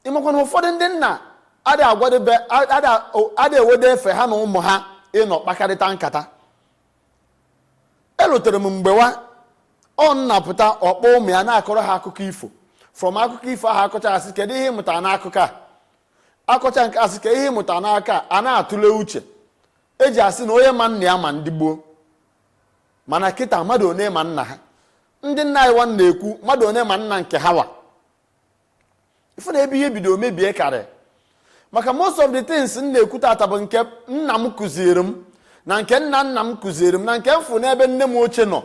ị makwa na ụfọdụ ndị nna ada ewede efe ha na ụmụ ha ịnọ kpakarịta nkata elutere m mgbe wa ọ nna pụta ọ kpọ ụmụ ya na-akọrọ ha akụkọ ifo from akụkọ ifo ahụ akọcha asị kedu ihe ị mụta n'akụkọ a akọcha nke asị ka ihe ị mụta n'aka a na-atụle uche eji asị na onye ma nna ya ma ndị gboo mana kịta mmadụ one ma nna ha ndị nna anyịwa na-ekwu mmadụ one ma nna nke ha wa ị fụ na ebe ihe bido mebie karị maka most of the things m na-ekwu tata bụ nke nna m kụziere m na nke nna nna m kụziere m na nke m fụ n'ebe nne m ochie nọ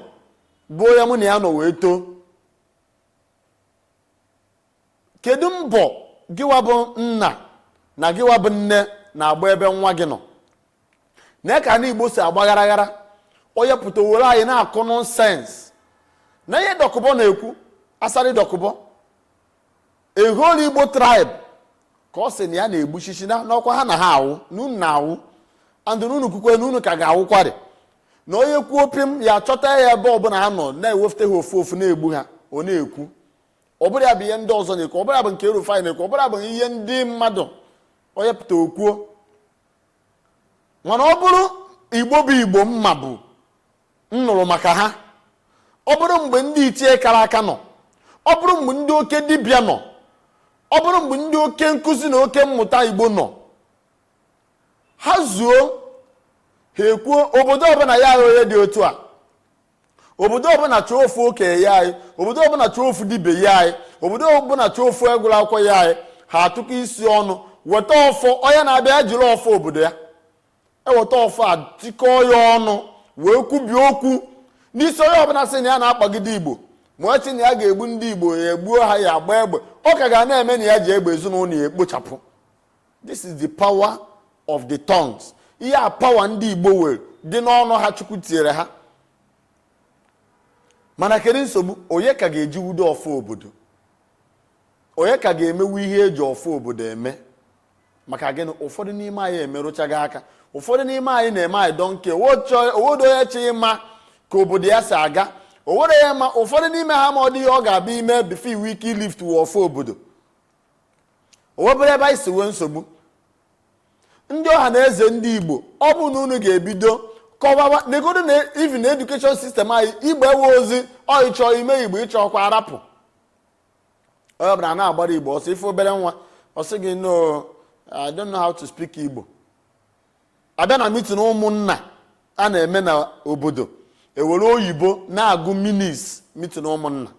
bụ onye mụ na ya nọ wee too kedu mbọ gịwa bụ nna na gịwa bụ nne na-agba ebe nwa gị nọ na ka ndị igbo si agbagharaghara onye pụta were anyị na-akụ nonsense na ihe Dokubo na-ekwu Asari Dokubo a whole igbo tribe ka ọ sị na ya na-egbusisi na n'ọkwa ha na ha awụ na unu na-awụ and na unu kwukwe na unu ka ga-awụkwarị na onye kwuo pim ya chọta ya ebe ọbụla ha nọ na-ewefute ha ofu ofu na-egbu ha ọ na-ekwu ọ bụrụ ya bụ ihe ndị ọzọ na-ekwu ọ bụrụ ya bụ nke Rufai na-ekwu ọ bụrụ ya bụ ihe ndị mmadụ onye pụta o kwuo mana ọ bụrụ igbo bụ igbo m ma bụ m nụrụ maka ha ọ bụrụ mgbe ndị ichie kara aka nọ ọ bụrụ mgbe ndị oke dibịa nọ ọ bụrụ mgbe ndị oke nkụzi na oke mmụta igbo nọ ha zuo ha ekwuo obodo ọbụla ya agha onye dị otu a obodo ọbụla chọọ ofu okenye nye anyị obodo ọbụla chọọ ofu dibịa nye anyị obodo ọbụla chọọ ofu onye gụrụ akwụkwọ nye anyị ha atụkọ isi ọnụ weta ọfọ onye na-abịa jiri ọfọ obodo ya eweta ọfọ a tikọọ ya ọnụ wee kwubie okwu n'isi onye ọbụla sị na ya na-akpagide igbo ma ọ sị na ya ga-egbu ndị igbo ya egbuo ha ya agba egbe ọ ka ga na-eme na ya ji egbe ezinụlọ ya ekpochapụ this is the power of the tongues ihe a power ndị igbo were dị n'ọnụ ha chukwu tinyere ha mana kedu nsogbu onye ka ga-ejiwudo ọfọ obodo onye ka ga-emewu ihe eji ọfọ obodo eme maka gịnị ụfọdụ n'ime anyị emerụchago aka ụfọdụ n'ime anyị na-eme i don't care o wedo onye chọ ịma ka obodo ya si aga o were ya ma ụfọdụ n'ime ha ma ọ dị ihe ọ ga-abịa ime before i wee ike ilift ọfọ obodo o wee bụrụ ebe anyị si nwee nsogbu ndị ọha na eze ndị igbo ọ bụ na unu ga-ebido kọwawa negodu na even education system anyị igbo ewe ozi ọ ị chọ ime igbo ị chọọkwa arapụ onye ọbụla na-agbara igbo ọsọ ị fụ obere nwa ọ sị gị no i don't know how to speak igbo a bịa na meeting ụmụnna a na-eme na obodo e were oyibo na-agụ minutes meeting ụmụnna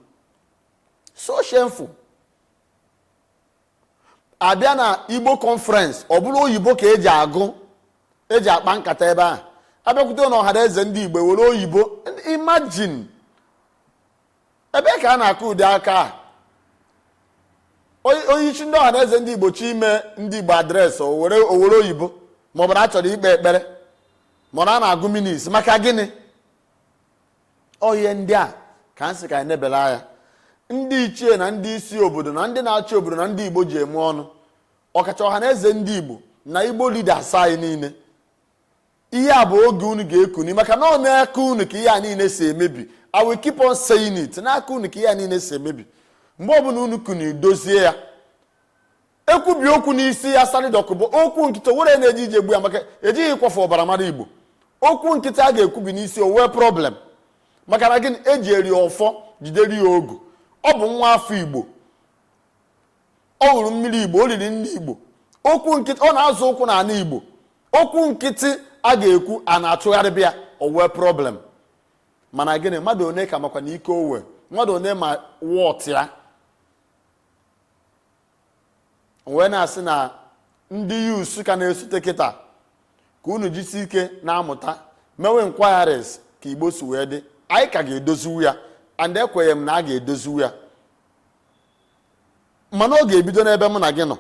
so shameful abịa na igbo conference ọ bụrụ oyibo ka eji agụ eji akpa nkata ebe ahụ abịakwute na ọha na eze ndị igbo were oyibo imagine ebe ka a na-akụ ụdị aka a onyeisi ndị ọha na eze ndị igbo chọ ime ndị igbo address o were oyibo maọbụ na a chọrọ ikpe ekpere mana a na-agụ minutes maka gịnị ọ ihe ndị a ka m sị ka anyị nebela anya ndị ichie na ndị isi obodo na ndị na-achị obodo na ndị igbo ji eme ọnụ ọkacha ọha na eze ndị igbo na igbo leaders anyị niile ihe a bụ oge unu ga-ekuni maka na ọ n'aka unu ka ihe a niile si emebi i will keep on saying it n'aka unu ka ihe a niile si emebi mgbe ọbụla unu kuni dozie ya ekwubi okwu n'isi asari dokubo okwu nkịtị were na-eji ije gbu ya maka ejighị ịkwafu ọbara mara igbo okwu nkịtị a ga-ekwubi n'isi o nwee problem maka na gịnị ejiri ọfọ jidere ya ogu ọ bụ nwa afọ igbo ọ ṅụrụ mmiri igbo o riri nri igbo okwu nkịtị ọ na-azọ ụkwụ n'ala igbo okwu nkịtị a ga-ekwu a na-achụgharịbe ya o nwee problem mana gịnị mmadụ one ka makwa na ike o nwe mmadụ one ma worth ya wee na-asị na ndị youths ka na-esote kịta ka unu jisi ike na-amụta mewe inquiries ka igbo si wee dị anyị ka ga-edoziwu ya and ekwenye m na a ga-edoziwu ya mana ọ ga-ebido n'ebe mụ na gị nọ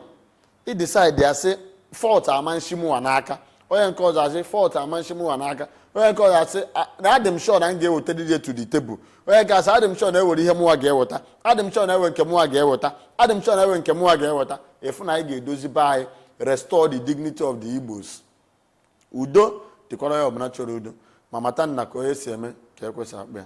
ị decide ya sị fault ama eshi mụwa n'aka onye nke ọzọ asị fault ama eshi mụwa n'aka onye nke ọzọ asị na adị m sure na m ga-eweta this to the table onye nke asị adị m sure na enwere ihe mụwa ga-eweta adị m sure na enwe nke mụwa ga-eweta adị m sure na enwe nke mụwa ga-eweta ị fụ na anyị ga-edozi be anyị restore the dignity of the igbos udo dịkwara onye ọbụla chọrọ udo ma mata na ka onye si eme ka ekwesị akpa ya